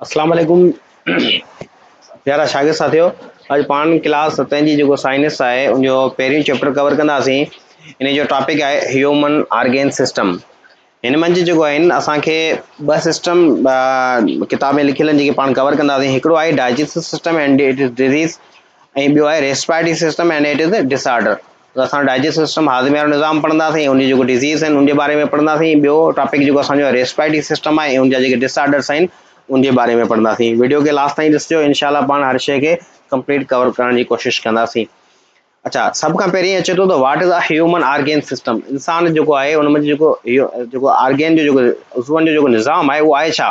اسلام عليڪم پيارا شاگرد ساٿيو اڄ پاڻ ڪلاس ستين جي جيڪو سائنس آهي ان جو پهريون چيپٽر ڪور ڪنداسين ان جو ٽاپڪ آهي هيومن آرگين سسٽم هن منجهه جيڪو آهن اسانکي ٻه سسٽم ڪتاب ۾ لکيل جيڪي پاڻ ڪور ڪنداسين هڪڙو آهي digestive system and its disease ۽ ٻيو آهي respiratory system and its disorder ته اسان ڊائجسٽو سسٽم هاضمي وارو نظام پڙهنداسين ان جي جيڪو ڊزيز آهن ان جي باري ۾ پڙهنداسين ٻيو ٽاپڪ جيڪو اسان جو ريسپريٽري سسٽم آهي ان جا جيڪي ڊس آرڊرس آهن ان جي باري ۾ پڙهنداسين ويڊيو کي لاسٽ تائين ڏسجو انشاء الله پاڻ هر شيء کي ڪمپليٽ ڪور ڪرڻ جي کوشش ڪنداسين اچھا سڀ کان پهرين اچي ٿو ته what is a human organ system انسان جيڪو آهي ان ۾ جيڪو جيڪو آرگين جو جيڪو عضون جو جيڪو نظام آهي اهو آهي ڇا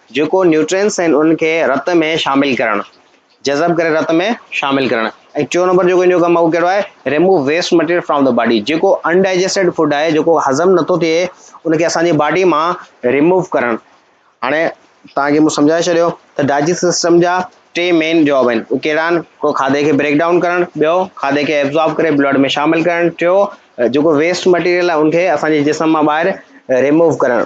جيڪو نيوٽرينس آهن انهن کي رت ۾ شامل ڪرڻ، جذب ڪري رت ۾ شامل ڪرڻ ۽ ٽيون نمبر جيڪو ان جو ڪم آهي اهو ڪهڙو آهي Remove waste material from the body جيڪو Undigested food آهي جيڪو هضم نٿو ٿئي ان کي اسان جي باڊي مان Remove ڪرڻ هاڻي توهان کي مون سمجهائي ڇڏيو ته ڊائجسٽ سسٽم جا ٽي مين جاب آهن اهي ڪهڙا آهن هڪڙو کاڌي کي بريڪ ڊائون ڪرڻ ٻيو کاڌي کي ابزارب ڪري بلڊ ۾ شامل ڪرڻ ٽيو جيڪو ويسٽ مٽيريل آهي ان کي اسان جي جسم مان ٻاهر ريموو ڪرڻ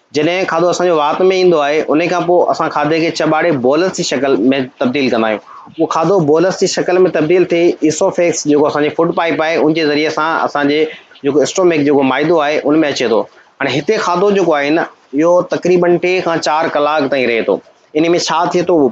جڏهن کاڌو اسان جي وات ۾ ايندو آهي، انهي کان پوء اسان کاڌي کي چٻاڙي بولس جي شڪل ۾ تبديل ڪندا آهيون. اهو کاڌو بولس جي شڪل ۾ تبديل ٿي ايسوفيگس جيڪو اسان جي فوڊ پائيپ آهي ان جي ذريعي سان اسان جي جيڪو اسٽومڪ جيڪو معدو آهي ان ۾ اچي ٿو. هاڻي هتي کاڌو جيڪو آهي نه اهو تقريبن ٽي کان چار ڪلاڪ تائين رهي ٿو. انهي ۾ ڇا ٿئي ٿو اهو.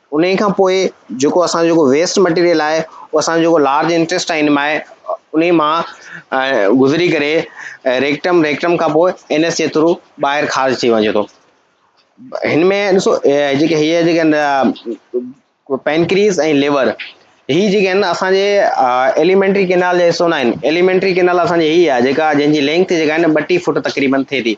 انهي کان پوء جيڪو اسان جو ويسٽ مٽيريل آهي اهو اسان جو جيڪو لارج انٽيسٽائن مان انهي مان گذري ڪري ريڪٽم ريڪٽم کان پوء انس جي ٿرو ٻاهر خارج ٿي وڃي ٿو هن ۾ ڏسو جيڪي هي جيڪي آهن پينڪريز ۽ ليور هي جيڪي آهن اسان جي ايليمينٽري ڪينال جا حصو نه آهن ايليمينٽري ڪينال اسان جي هي آهي جيڪا جنهن جي لينگٿ جيڪا آهي نه ٻٽيهه فوٽ تقريبن ٿئي ٿي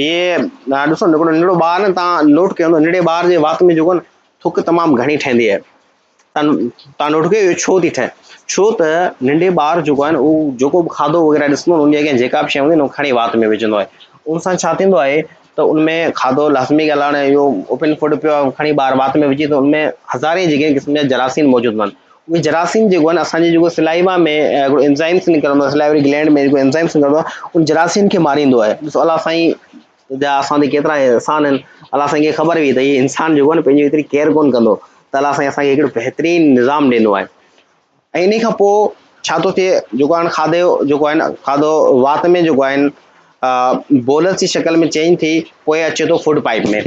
هيء ڏسو ننڍڙو ننڍڙو ٻار نه تان نوٽ ڪيو هوندو ننڍڙي ٻار جي وات ۾ جيڪو نه ٿڪ تمام گهڻي ٺهندي آهي تان تان نوٽ ڪيو ڇو ٿي ٺهي ڇو ته ننڍي ٻار جيڪو آهي نه هو جيڪو به کاڌو وغيره ڏسندو ان جي اڳيان جيڪا به شيء هوندي نو کڻي وات ۾ وجهندو آهي ان سان ڇا ٿيندو آهي ته ان ۾ کاڌو لازمي ڳالهه آهي هاڻي اهو اوپن فوڊ پيو آهي کڻي ٻار وات ۾ وجهي ته ان ۾ هزارين جيڪي قسم جا جراثيم موجود هوندا آهن اهي جراثيم جيڪو آهن اسان جي جيڪو سلائيوا ۾ هڪڙو انزائمس نڪرندو آهي سلائيوري گلينڊ ۾ جيڪو انزائمس نڪرندو آهي ان جراثيم کي ماريندو آهي ڏسو الله سائين جا اسان تي ڪيترا احسان آهن الله سائين کي خبر هئي ته هي انسان جيڪو آهي پنهنجي هيتري ڪيئر ڪون ڪندو ته الله سائين اسان کي هڪڙو بهترين نظام ڏنو آهي ۽ ان کان پوء ڇا ٿو ٿئي جيڪو آهن کاڌي جو جيڪو آهن کاڌو وات ۾ جيڪو آهن بولس جي شڪل ۾ چينج ٿي پوء اچي ٿو فوڊ پائپ ۾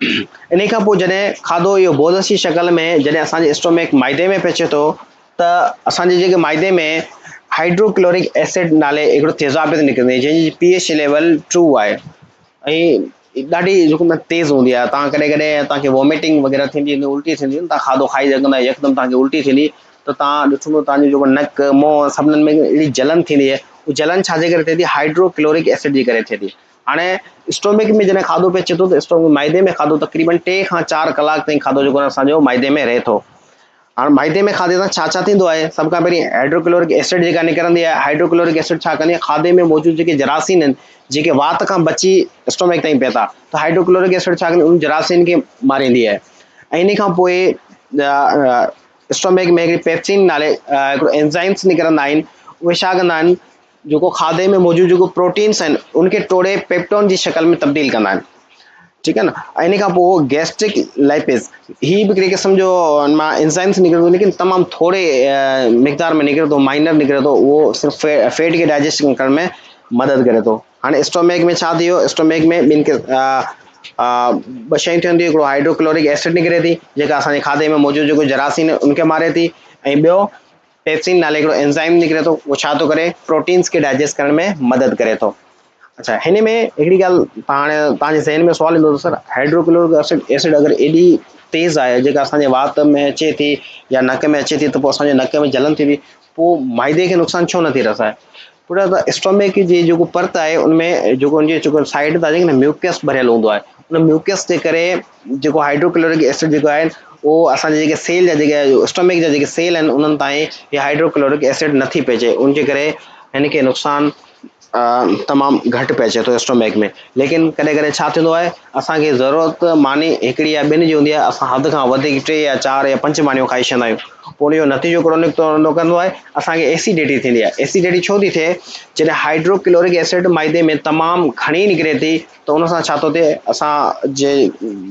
انهي کان پوء جڏهن کاڌو اهو بولس جي شڪل ۾ جڏهن اسان جي اسٽومڪ معدي ۾ پهچي ٿو ته اسان جي جيڪي معدي ۾ هائڊرو ڪلورڪ ايسڊ نالي هڪڙو تيزاب پي ٿي نڪري جنهن جي پي ايڇ ليول ٽو آهي ۽ ڏاڍي جيڪو مطلب تيز هوندي آهي تان ڪڏهن ڪڏهن تان کي ووميٽنگ وغيره ٿيندي هوندي الٽي ٿيندي هوندي تان کاڌو کائي سگهندا يڪدم تان کي الٽي ٿيندي ته تان ڏٺو هوندو تان جو جيڪو نڪ منهن سڀنن ۾ اهڙي جلن ٿيندي آهي هو جلن ڇا جي ڪري ٿئي ٿي هائڊرو ڪلورڪ ايسڊ جي ڪري ٿئي ٿي هاڻي اسٽومڪ ۾ جڏهن کاڌو پهچي ٿو ته اسٽومڪ معدي ۾ کاڌو تقريبن ٽي کان چار ڪلاڪ تائين کاڌو جيڪو آهي اسانجو معدي ۾ رهي ٿو هاڻ معدي ۾ کاڌي سان ڇا ڇا ٿيندو آهي سڀ کان پهرين هائڊروڪلورڪ ايسڊ جيڪا نڪرندي آهي هائڊروڪلورڪ ايسڊ ڇا ڪندي آهي کاڌي ۾ موجود جيڪي جراثيم آهن جيڪي وات کان بچي اسٽومڪ تائين پيتا ته هائڊروڪلورڪ ايسڊ ڇا ڪندي ان جراثيم کي ماريندي آهي ۽ ان کان پوء اسٽومڪ ۾ هڪڙي پيپسين نالي هڪڙو انزائمس نڪرندا آهن اهي ڇا ڪندا آهن جيڪو کاڌي ۾ موجود جيڪو پروٽينس آهن ان کي ٽوڙي پيپٽون جي شڪل ۾ تبديل ڪندا آهن ٺيڪ آهي نه ان کان پوء گيسٽرڪ لائپيز هي به هڪڙي قسم جو ان مان انزائمس نڪري ٿو ليڪن تمام ٿوري مقدار ۾ نڪري ٿو مائنر نڪري ٿو اهو صرف فيٽ کي ڊائجيسٽ ڪرڻ ۾ مدد ڪري ٿو هاڻي اسٽوميڪ ۾ ڇا ٿي ويو اسٽوميڪ ۾ ٻن ٻه شيون ٿيون ٿي هڪڙو هائڊروڪلورڪ ايسڊ نڪري ٿي جيڪا اسان جي کاڌي ۾ موجود جيڪو جراثيم ان کي ماري ٿي ۽ ٻيو پيپسين نالي هڪڙو انزائم نڪري ٿو اهو ڇا ٿو ڪري پروٽينز کي ڊائجيسٽ ڪرڻ ۾ مدد ڪري ٿو اچھا هن ۾ هڪڙي ڳالهه هاڻي توهان جي ذهن ۾ سوال ايندو ته سر هائڊروڪلورڪ اسڊ اسڊ اگر ايڏي تيز آهي جيڪا اسان جي وات ۾ اچي ٿي يا نڪ ۾ اچي ٿي ته پوء اسان جي نڪ ۾ جلن ٿي ٿي پوء معدي کي نقصان ڇو نٿي رسائي پٽ ته اسٽمڪ جي جيڪو پرت آهي ان ۾ جيڪو ان جي جيڪو سائيڊ تان جيڪو ميوڪس ڀريل هوندو آهي ان ميوڪس جي ڪري جيڪو هائيڊروڪلورڪ ايسڊ جيڪو آهي اهو اسان جي جيڪي سيل جا جيڪي اسٽمڪ جا جيڪي سيل آهن انهن تائين هي هائيڊروڪلورڪ ايسڊ نٿي پهچي ان جي ڪري هن کي نقصان تمام گهٽ پهچي ٿو اسٽمڪ ۾ ليڪن ڪڏهن ڪڏهن ڇا ٿيندو آهي اسان کي ضرورت ماني هڪڙي يا ٻن جي هوندي آهي اسان حد کان وڌيڪ ٽي يا چار يا پنج مانيون کائي ڇڏيندا آهيون پوء اهو نتيجو ڪهڙو نڪتو نڪرندو آهي، اسان کي ايسيڊيٽي ٿيندي آهي. ايسيڊيٽي ڇو ٿي ٿئي، جڏهن هائڊرو ڪلورڪ ايسڊ معدي ۾ تمام گهڻي نڪري ٿي ته ان سان ڇا ٿو ٿئي اسان جي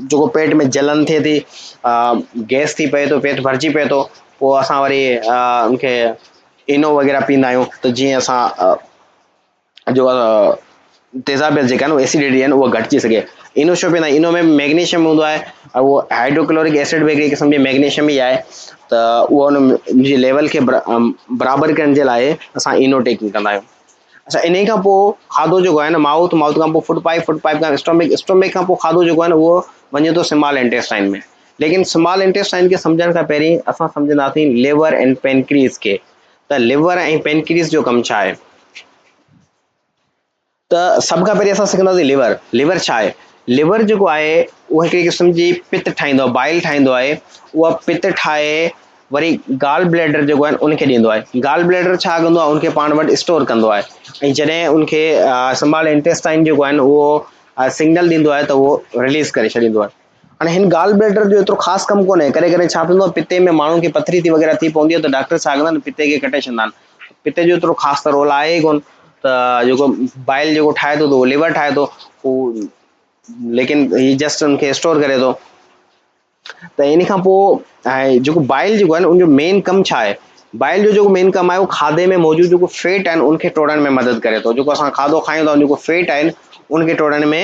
جيڪو پيٽ ۾ جلن ٿئي ٿي، گئس ٿي پئي ٿو، پيٽ ڀرجي پئي ٿو، پوء اسان وري ان کي اينو وغيره پيئندا آهيون ته جيئن اسان جو تيزابيت جيڪا آهن ايسڊٽي آهن اها گهٽجي سگهي انو شو پيئندا انو ۾ ميگنيشيم هوندو آهي اهو هائڊروڪلورڪ ايسڊ به هڪڙي قسم جي ميگنيشيم ئي آهي ته اهو ان جي ليول کي برابر ڪرڻ جي لاء اسان انو ٽيڪنگ ڪندا آهيون اچھا ان کان پوء کاڌو جيڪو آهي ن مائوٿ مائوٿ کان پوء فوڊ پائپ فوڊ پائپ کان اسٽومڪ اسٽومڪ کان پوء کاڌو جيڪو آهي ن اهو وڃي ٿو سمال انٽيسٽائن ۾ ليڪن سمال انٽيسٽائن کي سمجھڻ کان پهرين اسان سمجھنداسين ليور اينڊ پينڪريز کي ته ليور ۽ پينڪريس جو ڪم ڇا آهي؟ ته سڀ کان پهرين اسان سکنداسين ليور، ليور ڇا آهي؟ ليور جيڪو آهي اهو هڪڙي قسم جي پت ٺاهيندو آهي، بائل ٺاهيندو آهي، اها پت ٺاهي وري گال بليڊر جيڪو آهي ان کي ڏيندو آهي، گال بليڊر ڇا ڪندو آهي ان کي پاڻ وٽ اسٽور ڪندو آهي ۽ جڏهن ان کي سمال انٽيسٽائن جيڪو آهن اهو سگنل ڏيندو آهي ته اهو رليز ڪري ڇڏيندو آهي. هاڻي هن گال بليڊر جو ايترو خاص ڪم ڪونهي. ڪڏهن ڪڏهن ڇا ٿيندو آهي پتي ۾ ماڻهن کي پٿري ٿي وغيره ٿي پوندي آهي ته ڊاڪٽر ڇا ڪندا آهن پتي کي ڪٽي ڇڏندا آهن. پتي جو ايترو خاص ته رول آهي ئي ڪونه ته جيڪو بائل جيڪو ٺاهي ٿو ته اهو ليور ٺاهي ٿو هو ليڪن هي جسٽ ان کي اسٽور ڪري ٿو ته ان کان پوء جيڪو بائل جيڪو آهي ان جو مين ڪم ڇا آهي بائل جو جيڪو مين ڪم آهي اهو کاڌي ۾ موجود جيڪو فيٽ آهن ان کي ٽوڙڻ ۾ مدد ڪري ٿو جيڪو اسان کاڌو کايون ٿا جيڪو فيٽ آهن ان کي ٽوڙڻ ۾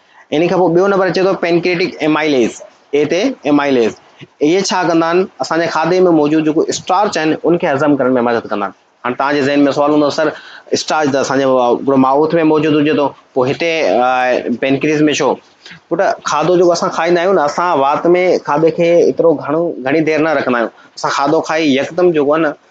انهي کان پوء ٻيو نمبر اچي ٿو پينڪريئٽڪ ايمائليز، اي تي ايمائليز. اهي ڇا ڪندا آهن، اسان جي کاڌي ۾ موجود جيڪو اسٽارچ آهن ان کي هضم ڪرڻ ۾ مدد ڪندا آهن. هاڻي توهان جي ذهن ۾ سوال هوندو سر اسٽارچ ته اسان جي هڪڙو مائوٿ ۾ موجود هجي ٿو پوء هتي پينڪريز ۾ ڇو؟ پٽ کاڌو جيڪو اسان کائيندا آهيون نه اسان وات ۾ کاڌي کي ايترو گهڻو گهڻي دير نه رکندا آهيون. اسان کاڌو کائي يڪدم جيڪو آهي نه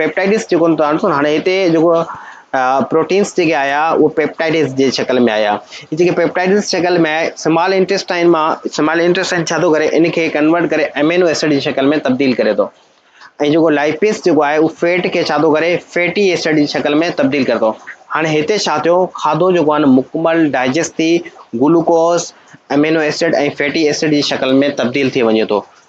پيپٽائيڊز جيڪو توهان ڏسو هاڻي هتي جيڪو پروٽينز جيڪي آيا اهو پيپٽائيڊز جي شڪل ۾ آيا هي جيڪي پيپٽائيڊز جي شڪل ۾ آيا سمال انٽيسٽائن مان سمال انٽيسٽائن ڇا ٿو ڪري ان کي ڪنورٽ ڪري امينو ايسڊ جي شڪل ۾ تبديل ڪري ٿو ۽ جيڪو لائپيز جيڪو آهي اهو فيٽ کي ڇا ٿو ڪري فيٽي ايسڊ جي شڪل ۾ تبديل ڪري ٿو هاڻي هتي ڇا ٿيو کاڌو جيڪو آهي مڪمل ڊائجسٽ ٿي glucose amino acid ۽ fatty acid جي شڪل ۾ تبديل ٿي وڃي ٿو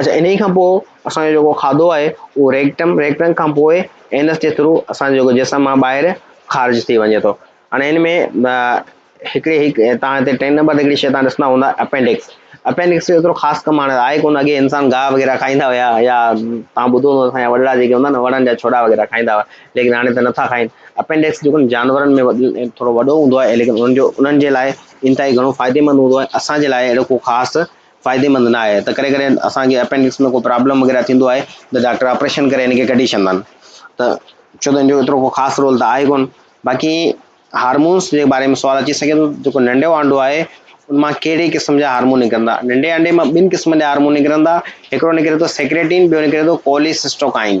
اچا انهي کان پوء اسان جو جيڪو کاڌو آهي اهو ريڪٽم ريڪٽم کان پوء اينس جي ٿرو اسان جو جسم مان ٻاهر خارج ٿي وڃي ٿو هاڻي ان ۾ هڪڙي هڪ تان هتي ٽين نمبر تي هڪڙي شيء تان ڏسندا هوندا اپينڊڪس اپينڊڪس جو ايترو خاص ڪم هاڻي آهي ڪونه اڳي انسان گاهه وغيره کائيندا هيا يا تان ٻڌو هوندو اسان جا وڏڙا جيڪي هوندا نه وڻن جا ڇوڏا وغيره کائيندا هئا ليڪن هاڻي ته نٿا کائين اپينڊڪس جيڪو جانورن ۾ ٿورو وڏو هوندو آهي ليڪن انهن جو انهن جي لاء انتهائي گهڻو فائديمند هوندو آهي اسان جي لاء اهڙو ڪو خاص فائديمند نه آهي ته ڪڏهن ڪڏهن اسان کي اپينڊڪس ۾ ڪو پرابلم وغيره ٿيندو آهي ته ڊاڪٽر آپريشن ڪري ان کي ڪڍي ڇڏندا آهن ته ڇو ته ان جو ايترو ڪو خاص رول ته آهي ڪون باقي هارمونس جي باري ۾ سوال اچي سگهي ٿو جيڪو ننڍو آنڊو آهي ان مان ڪهڙي قسم جا هارمون نڪرندا ننڍي آنڊي مان ٻن قسمن جا هارمون نڪرندا هڪڙو نڪري ٿو سيڪريٽين ٻيو نڪري ٿو ڪوليسسٽوڪائين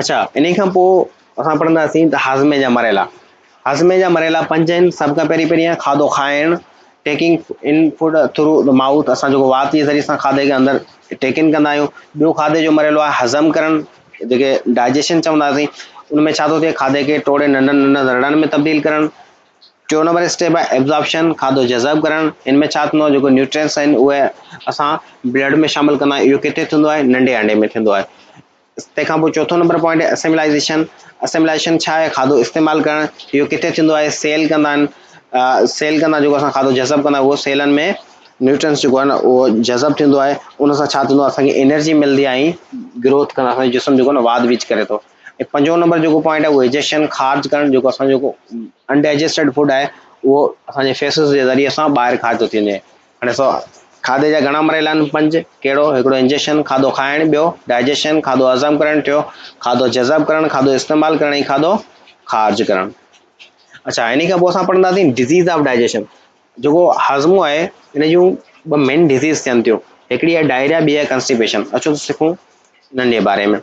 اڇا انهي کان پوء اسان پڙهنداسين ته هاضمي جا مرحلا هاضمي جا مرحلا پنج آهن سڀ کان پهرين پهرين آهي کاڌو کائڻ taking in food through the mouth اسان جيڪو وات جي ذريعي سان کاڌي کي اندر ٽيڪن ڪندا آهيون ٻيو کاڌي جو مرحلو آهي هضم ڪرڻ جيڪي ڊائجيشن چونداسين ان ۾ ڇا ٿو ٿئي کاڌي کي ٽوڙي ننڍن ننڍن ذرڙن ۾ تبديل ڪرڻ ٽيون نمبر اسٽيپ آهي ابزارپشن کاڌو جذب ڪرڻ ان ۾ ڇا ٿيندو آهي جيڪو نيوٽرينس آهن اهي اسان بلڊ ۾ شامل ڪندا آهيون اهو ڪٿي ٿيندو آهي ننڍي آنڊي ۾ ٿيندو آهي تنهن کان پوء چوٿون نمبر پوائنٽ آهي اسيملائيزيشن، اسيملائيشن ڇا آهي؟ کاڌو استعمال ڪرڻ، اهو ڪٿي ٿيندو آهي؟ سيل ڪندا آهن، سيل ڪندا جيڪو اسان کاڌو جذب ڪندا اهو سيلن ۾ نيوٽرنس جيڪو آهي نه اهو جذب ٿيندو آهي ان سان ڇا ٿيندو آهي اسان کي انرجي ملندي آهي ۽ گروٿ ڪندا اسان جو جسم جيڪو نه واڌ ويجھ ڪري ٿو ۽ پنجون نمبر جيڪو پوائنٽ آهي اهو ايجيشن خارج ڪرڻ جيڪو اسان جيڪو انڊائجسٽيڊ فوڊ آهي اهو اسان جي فيسز جي ذريعي سان ٻاهر خارج ٿو ٿي وڃي هاڻي سو کاڌي جا گهڻا مرحلا آهن، پنج، ڪهڙو؟ هڪڙو انجيشن، کاڌو کائڻ، ٻيو، ڊائجيشن، کاڌو هضم ڪرڻ، ٽيون، کاڌو جذب ڪرڻ، کاڌو استعمال ڪرڻ ۽ کاڌو خارج ڪرڻ. اڇا انهي کان پوء اسان پڙهنداسين ڊزيز آف ڊائجيشن جيڪو هاضمو آهي ان جون ٻه مين ڊزيز ٿين ٿيون هڪڙي آهي ڊائريا ٻي آهي ڪنسٽيپيشن اچو سکون انهن جي باري ۾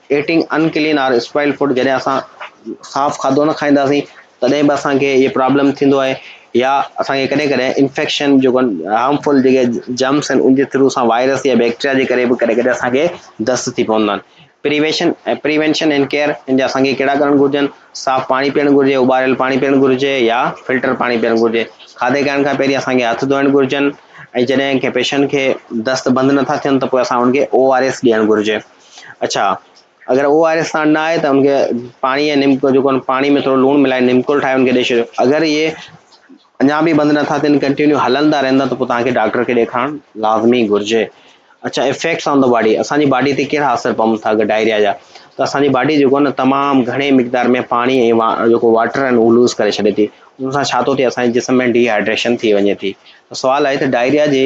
eating unclean or spoiled food جڏهن اسان صاف کاڌو نه کائينداسين تڏهن به اسان کي اهي پرابلم ٿيندو آهي يا اسان کي ڪڏهن ڪڏهن انفيڪشن جيڪو هارم فل جيڪي جمس آهن ان جي ٿرو اسان وائرس يا بيڪٽريا جي ڪري به ڪڏهن ڪڏهن اسان کي دست ٿي پوندا آهن پريويشن پريوينشن اينڊ ڪيئر ان جا اسان کي ڪهڙا ڪرڻ گهرجن صاف پاڻي پيئڻ گهرجي اٻاريل پاڻي پيئڻ گهرجي يا فلٽر پاڻي پيئڻ گهرجي کاڌي کائڻ کان پهرين اسان کي هٿ ڌوئڻ گهرجن ۽ جڏهن ڪنهن پيشنٽ کي دست بند نٿا ٿين ته پوء اسان ان کي او آر ايس ڏيڻ گهرجي اڇا اگر او آر ايس ساڻ نه آهي ته ان کي پاڻي ۽ نمڪو جيڪو آهن پاڻي ۾ ٿورو لوڻ ملائي نمڪول ٺاهي ان کي ڏئي ڇڏيو اگر اهي اڃا به بند نٿا ٿين ڪنٽينيو هلندا رهندا ته پوء توهان کي ڊاڪٽر کي ڏيکارڻ لازمي گهرجي اڇا افيڪٽس آن دا باڊي اسان جي باڊي تي ڪهڙا اثر پون ٿا اگر ڊائريا جا ته اسان جي باڊي جيڪو نه تمام گهڻي مقدار ۾ پاڻي ۽ جيڪو واٽر آهن اهو لوز ڪري ڇڏي ٿي ان سان ڇا ٿو ٿئي اسان جي جسم ۾ ڊي هائيڊريشن ٿي وڃي ٿي سوال آهي ته ڊائريا جي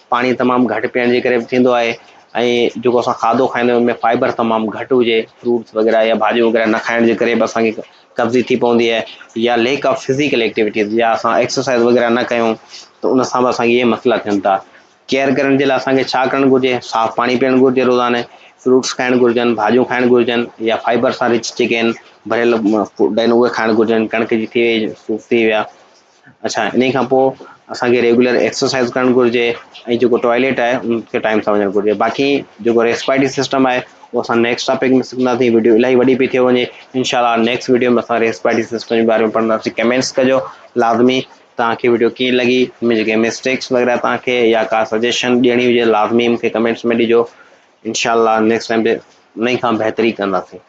پاڻي تمام گهٽ پيئڻ جي ڪري به ٿيندو آهي ۽ جيڪو اسان کاڌو کائيندا آهيون ان ۾ فائبر تمام گهٽ هجي فروٽس وغيره يا ڀاڄيون وغيره نه کائڻ جي ڪري به اسان کي قبضي ٿي پوندي آهي يا ليڪ آف فزيڪل ايڪٽيوٽيز يا اسان ايڪسرسائز وغيره نه ڪيون ته ان سان به اسان کي اهي مسئلا ٿين ٿا ڪيئر ڪرڻ جي لاء اسان کي ڇا ڪرڻ گهرجي صاف پاڻي پيئڻ گهرجي روزاني فروٽس کائڻ گهرجن ڀاڄيون کائڻ گهرجن يا فائبر سان رچ جيڪي آهن ڀريل فوڊ آهن اهي کائڻ گهرجن ڪڻڪ جي ٿي وئي صوف ٿي ويا اڇا انهي کان پوء اسان کي ريگيولر ايڪسرسائز ڪرڻ گهرجي ۽ جيڪو ٽوائليٽ آهي ان کي ٽائيم سان وڃڻ گهرجي باقي جيڪو ريسپائرٽي سسٽم آهي اهو اسان نيڪسٽ ٽاپڪ ۾ سکنداسين وڊيو الاهي وڏي پئي ٿي وڃي انشاء الله نيڪسٽ وڊيو ۾ اسان ريسپائرٽي سسٽم جي باري ۾ پڙهنداسين ڪمينٽس ڪجو لازمي توهان کي وڊيو ڪيئن لڳي ان ۾ جيڪي مسٽيڪس وغيره توهان کي يا ڪا سجيشن ڏيڻي هجي لازمي مون کي ڪمينٽس ۾ ڏجو انشاء الله نيڪسٽ ٽائيم تي انهي کان بهتري ڪنداسين